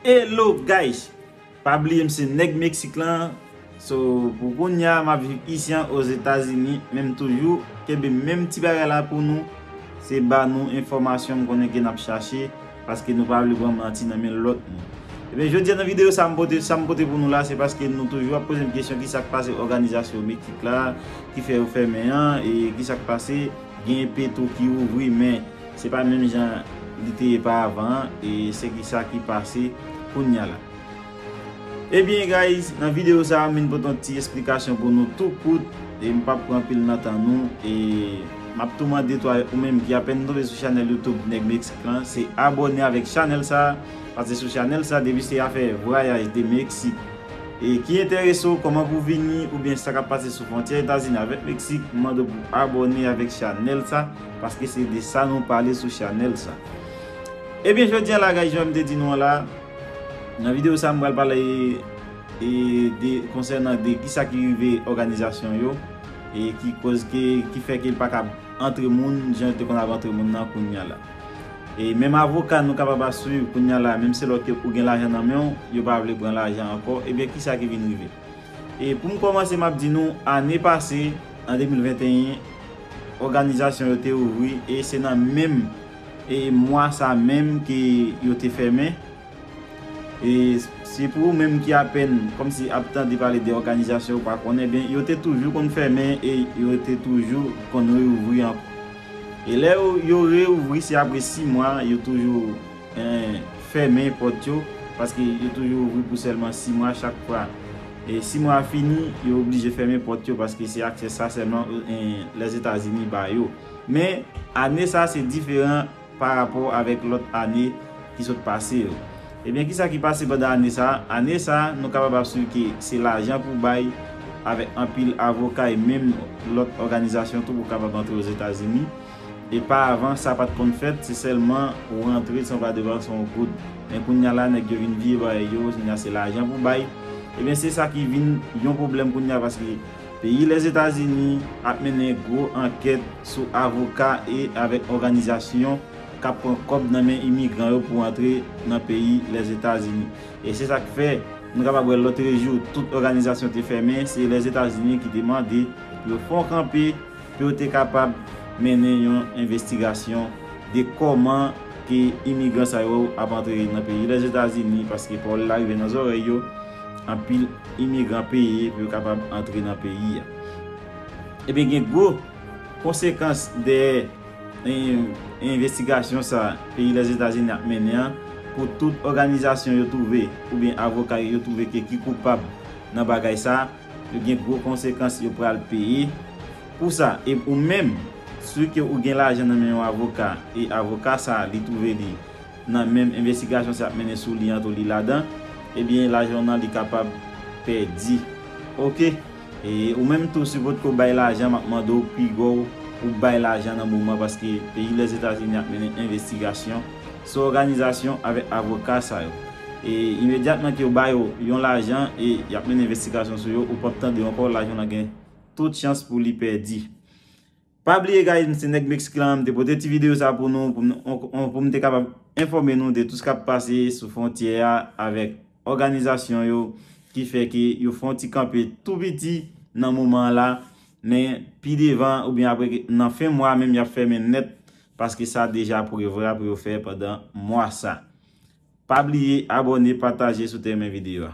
Hello guys pa bliye m se nèg Mexique lan so pou kounya map viv isi an ozetazini men m toujou kenbe menm ti bagay la pou nou se ba nou enfòmasyon m konnen ke nap chache paske nou pa vle pran manti nan men lòt moun ebyen jodi an nan videyo sa m pote sa m pote pou nou la se paske nou toujou ap poze m kesyon kisa k pase òganizasyon Mexique la ki fè yo fèmen an e kisa k pase gen petro ki ouvri men. Se pa menm jan li te ye pa avan an e se ki sa ki pase kounya la. Ebyen guys nan video sa m vin pote yon ti esplikasyon pou nou tou kout e m pap pran anpil nan tan nou e map tou mande tou avèk ou menm ki apèn tonbe sou chanèl YouTube Nèg Meksik lan se abòne avèk chanèl sa pase sou chanèl sa depi se afè vwayaj de Meksik e ki enterese w kòman pou vini oubyen sa kap pase sou fwontyè Etazini avèk Meksik m mande w pou abòne avèk chanèl sa. Paske se de sa nou pale sou chanèl sa. Ebyen jodi a la guys janm te di nou an la nan video sa m pral pale de konsènan de kisa ki rive òganizasyon yo e ki koz ke ki fè ke l pa kab antre moun jan l te konn ap antre moun nan kounya la. E menm avoka nou kapab ap swiv kounya la menm se lò ke ou gen lajan nan men w yo pa vle pran lajan ankò ebyen kisa ki vin rive. E pou m kòmanse m ap di nou ane pase an 2021 òganizasyon yo te ouvri e se nan menm e mwa sa menm ke yo te fèmen e si pou ou menm ki apèn kòmsi ap tande pale de òganizasyon ou pa konnen ebyen yo te toujou konn fèmen e yo te toujou konn reouvri ankò e lè yo reouvri se apre 6 mwa yo toujou Ii. Fèmen pòt yo, paske yo toujou ouvri pou sèlman 6 mwa chak fwa. E 6 mwa a fini, yo oblije fèmen pòt yo paske se aksè sa sèlman Lèzetazini ba yo. Men, ane sa se diferan pa rapò avèk lòt ane ki sot pase yo. Ebyen, kisa ki pase pandan ane sa? Ane sa, nou kapab ap swiv ke se lajan pou bay avèk anpil avoka e menm lòt òganizasyon tou pou kapab antre Ozetazini. Epa avan sa pat konn fèt se sèlman ou rantre san va depanse yon goud men kounya la nèg yo vin vye bagay yo kounya se lajan pou bay ebyen se sa ki vin yon pwoblèm kounya paske peyi lèzetazini ap mennen gwo ankèt sou avoka e avèk òganizasyon kap pran kòb nan men imigran yo pou antre nan peyi lèzetazini e se sak fè nou kapab wè lotrejou tout òganizasyon te fèmen se lèzetazini ki te mande pou yo fè yon kanpe pou yo te kapab mennen yon envestigasyon de kòman ke imigran sa yo ap antre nan peyi Lèzetazini, paske pawòl la rive nan zòrèy yo, anpil imigran peye pou yo kapab antre nan peyi a. Ebyen gen gwo konsekans dèyè envestigasyon sa peyi Lèzetazini ap mennen an pou tout òganizasyon yo twouve oubyen avoka yo twouve ke ki koupab nan bagay sa. Yo gen gwo konsekans yo pral peye pou sa e ou menm si ke ou gen lajan nan men yon avoka e avoka sa li twouve li nan menm envestigasyon sa y ap mennen sou li an tou li ladan ebyen lajan w nan li kapab pèdi ok e ou menm tou si potko bay lajan m ap mande w piga w pou bay lajan nan moman paske peyi Lèzetazini ap mennen envestigasyon. Sou òganizasyon avèk avoka sa yo. E imedyatman ke yo ba yo yon lajan e yap mennen envestigasyon sou yo ou pap tande yo ankò lajan lan gen tout chans pou li pèdi. Pa bliye guys m se nèg Mexique lan m te pote ti video sa pou nou pou m pou m te kapab enfòme nou de tout sa kap pase sou fwontyè a avèk òganizasyon yo ki fè ke yo fon ti kanpe tou piti nan moman la men pi devan oubyen apre nan fen mwa menm yap fèmen nèt Paske sa deja prevra pou yo fè pandan mwa sa. Pa bliye abone pataje sou te rmen video a.